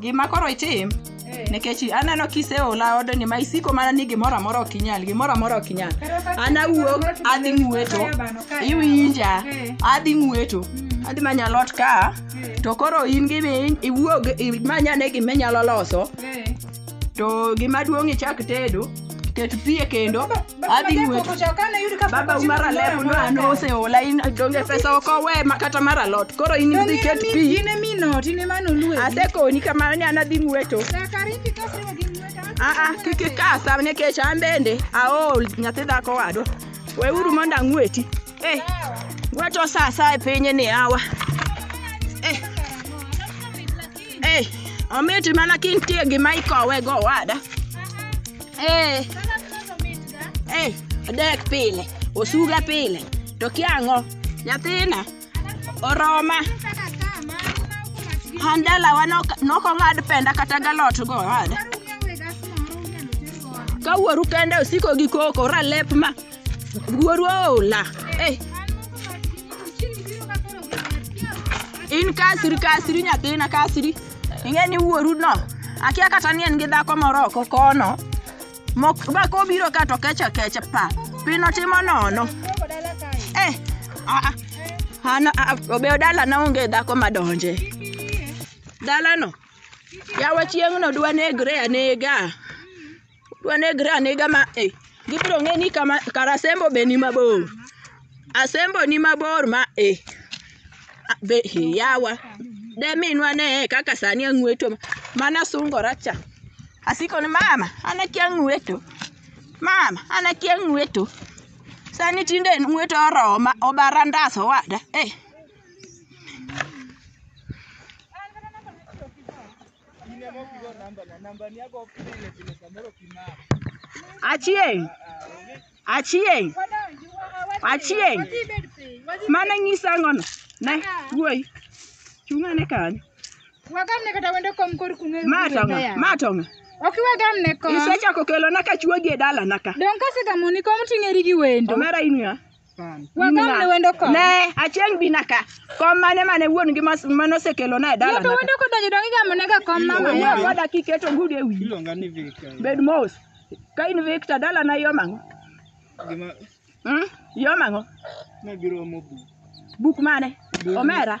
gima koro itim nikech aneno kiseola odni ma isiko mana ni gimoro amora ok inyal gimoro amora ok inyal an awuok adhi ng'weto iwinja adhi ng'weto adhi manyo alot ka to koro in gimi iwuog imanyane gima inyalo loso to gima duong' ichak tedo ket pi e kendo adhi ng'weto baba umar alep no an oseola in donge pesa ok owe ma kata mar alot koro in idhi ket pi asekoni kamano ni an adhi ng'weto aa kik ikasa nikech an bende aol nyathi dhako wadwa weuru mondo ang'weti Ei, wacho saa saa e piny ni awa. Ei, ei, omit mana kintie gima ikowe go wada. Ei, ei, adek pile, osuga pile, to kia ang'o? Nyathina, oroma. An dalawa nok- nokong'ad penda kata galot go wada. Ka wuoru kende osiko gi koko, ralep ma. Wuoru ola. Eh. In kasiri kasiri nyathina kasiri. Ing'e ni wuoru no. Akia kata ni en gi dhako moro oko kono. Mok ba kobiro ka to kecha kecha pa. Pino timo nono. Eh. Ah. ah. Ana ah, ah, obeyo dala na onge dhako madonje. Dala no. Yawa chieng'no dwa negre anega. Udwa negre anega ma eh, gibiro ng'e ni kama kar asembo be ni mabor. Asembo ni mabor ma eh. A- Be eh, yawa. De minwa ne eh, kaka sani ang'weto ma- mana sungora cha. Asiko ni mama, an akia ng'weto. Mama, an akia ng'weto. Sani tinde ng'weto oroma, obara ndas owada. Eh, Achieng'. Achieng'. Achieng'. Mano nyisa ang'ono. Ne, wuoyi. Chung' ane kanyo. Wagamne kata wendo kom kor kung'e. Ma tong'a, ma tong'a. Ok wagamne kom. Isechako kelona ka chuogi e dalana ka. Donge kasegamoni kom ting'eri gi wendo? Omera in ng'a? Wagamne wendo kod. Ne, achieng' bina ka. Kom mane mane wuon gi mas- mane osekelo na e dala. Yepe wendo kodonjo dongi gamo ne ga kom mama Wuon yawa. koda kiketo gudu e wiyi. Iluonga ni Victor. Bed mos. Ka in Victor dala na yom ang'o? Gima Hmm? Yom ang'o? nabiro omo bu. Buk mane? Omera.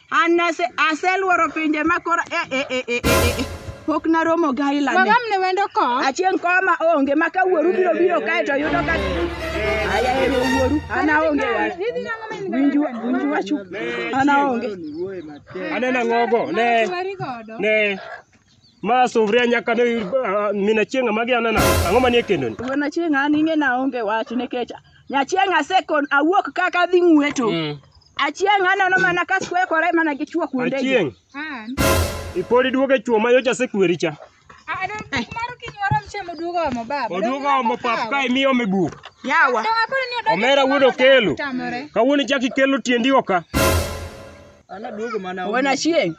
An nase aseluoro pinje ma kora e e e e e. Pok naromo gaila. Magam ne wendo ko. Achieng koma onge ma ka wuoru biro biro kae to yudo ka Aya ero wuoru ana onge wa. Winju winju wachu ana onge. Anena ngogo ne ne Ma sufria nyaka ne ah, mina chieng' magi anana. Ang'o manie kendoni? Wuon achieng' an ing'e na onge wach nikech nyachieng' asekon awuok kaka adhi ng'weto. Achieng' aneno mana ka skwekore mana gi chwo kuonde. Achieng', An. ipodi duogo e chwo ma yocha sekweri cha. Ah, don maro kinyoro mchemo duogo omo baba. Oduogo omo pap ka imiyo me buk. Yawa. Donga koro ni odonjo. Omera wuod Okelo. Tamore. Kawuono ichak ikelo tiendi oka. Wuon Achieng',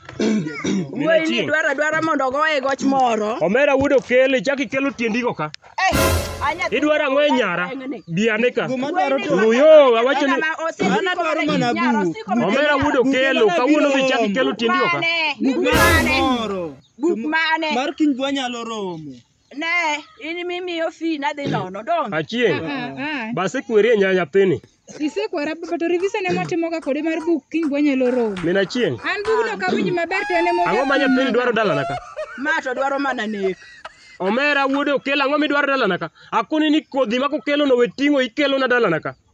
wuoyi ni dwaro adwara mondo ogoye goch moro. Omera wuod okele, chak ikelo tiendigo ka. Eh, anya- Idwaro ang'o e nyara? Bi ane ka. Luyo, awacho ni Kama osiko Mano dwaro kode mana nyara, buk. osiko kode Omera nyara. wuod okelo, kawuono dhi chak ikelo tiendigo ka. Mane? Buk mane? Buk mane? Mar kiny dwa nyalo romo. Ne, in mimiyo fee nadhi nono, don't. Achieng'. Base kweri e nya nyathini. Isekwara but revision ema watimoga kode mar buk kiny wanyalo romo. Min Achieng'. An bugno ok awinj maber to en ema Ang'o ma nyathini dwaro dalana ka? Ma to dwaro mana nek. Omera wuode okel ang'o midwaro dalana ka? Akoni ni kodhi ma kokelono we ting'o ikelona dalana ka.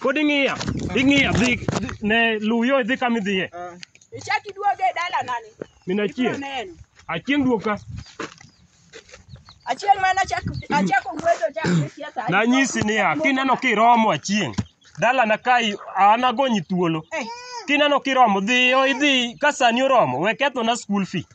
Pod ing'iya. Ing'iya dhi dhi- ne luw yo idhi kama idhiye. Ichak iduoge e dala nani? Min Ibiro achiel. neno. Achieng' duog ka. Achieng' mane achak achako wuotho chak gi siasa. Nanyisi niya kineno kiromo achieng'. Dalana kai an agonyi thuolo. Eh, Kineno kiromo dhiyo idhi ka sani oromo we kethona school fee.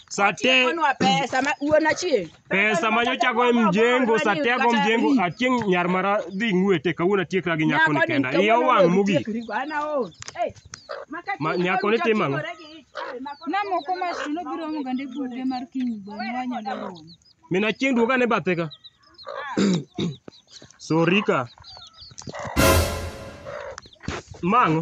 Sa te Tikonwa pesa ma wuon achieng'. Pesa ma nyocha go e mjengo, satia go mjengo, achieng' nyar mara dhi ng'wete kawuono atiekra gi nyako ni kenda. Iya owang' mogik. Ma nyako ni timo ang'o? Namoko mach to nobiro omo gande buge mar kiny bang' wanyalo romo. Min achieng' duoga ne bathe ka. Sorry ka. Mang'o?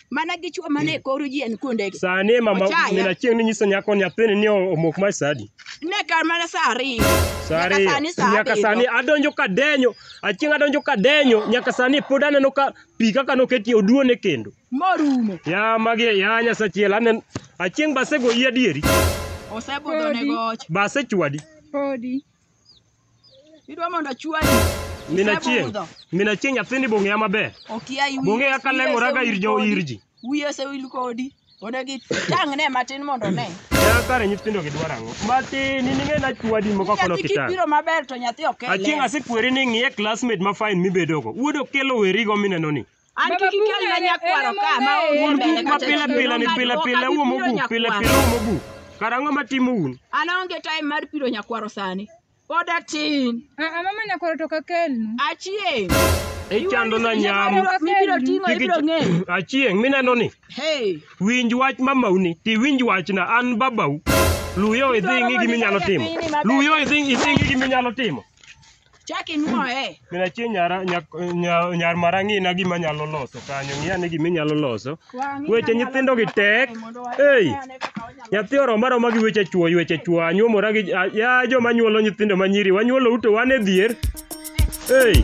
mana gi chwo mane koro ji en kuondegi. Sani mama Ochaya. mina chieng ni nyiso nyako nyathini ni omok mar sadi. Ne kar mana sa ariyo. Sari Nyaka sani sa nyaka abiriyo. sani adonjo ka denyo, achieng adonjo ka denyo nyaka sani pod aneno ka pi kaka noketie oduone kendo. Morumo. Ya magi ya nyasa chiel anen achieng basegoyi adieri Osebudho ne goch. basechwadi. Podi. Idwa mondo achwani. Min Achieng', Isebudho. Min Achieng' nyathini bong'eya maber. Okia iwi. Bong'eya ka lengoraga ir jo ir ji. Wiye osewil kodi. Odagi tang'ne matin mondo one. Ya kare nyithindo gidwaro ang'o? Matin, in ing'e na chwadi moko kono Nyathi kitang'. kibiro maber to nyathi ok ele. Achieng' asekweri ni ng'iye classmate ma fine mibedogo. Wuod Okello werigo minenoni. An kik ikel na nyakwaro ka ma onge Un mbele guk ma kata pile chien, pile ni onge pile adwoka, pile gipiro uomo buk, pile nyakwaro. pile uomo buk. Kara ang'o ma timo un? An aonge time mar piro nyakwaro sani. Pod atin. Ah, ah, mama nyakwaro to kakelnu. Achieng'. Ichando na nyam. Mibiro ting'o Kik ibiro ich- ng'eyo. Achieng' mineno ni. Hey. Winj wach mamau ni, ti winj wachna an babau. Luyo idhi ing'i gima inyalo timo. Luyo idhi idhi ing'i gima inyalo timo. Chak inuoye. Min achie nyara nyak- nya- nyar mara ng'ina gima nyalo loso kanyo. Ng'i ane gima inyalo loso. Wang'i Weche manyalo nyithindo gi tek. kae mondo wayud Ei. ane kaka wanyalo- Nyathi oroma roma gi weche chwo, weche chwo. Anyuomora gi a- ya joma nyuolo nyithindo ma nyiri. Wanyuolo ute wan e dhier. Ei.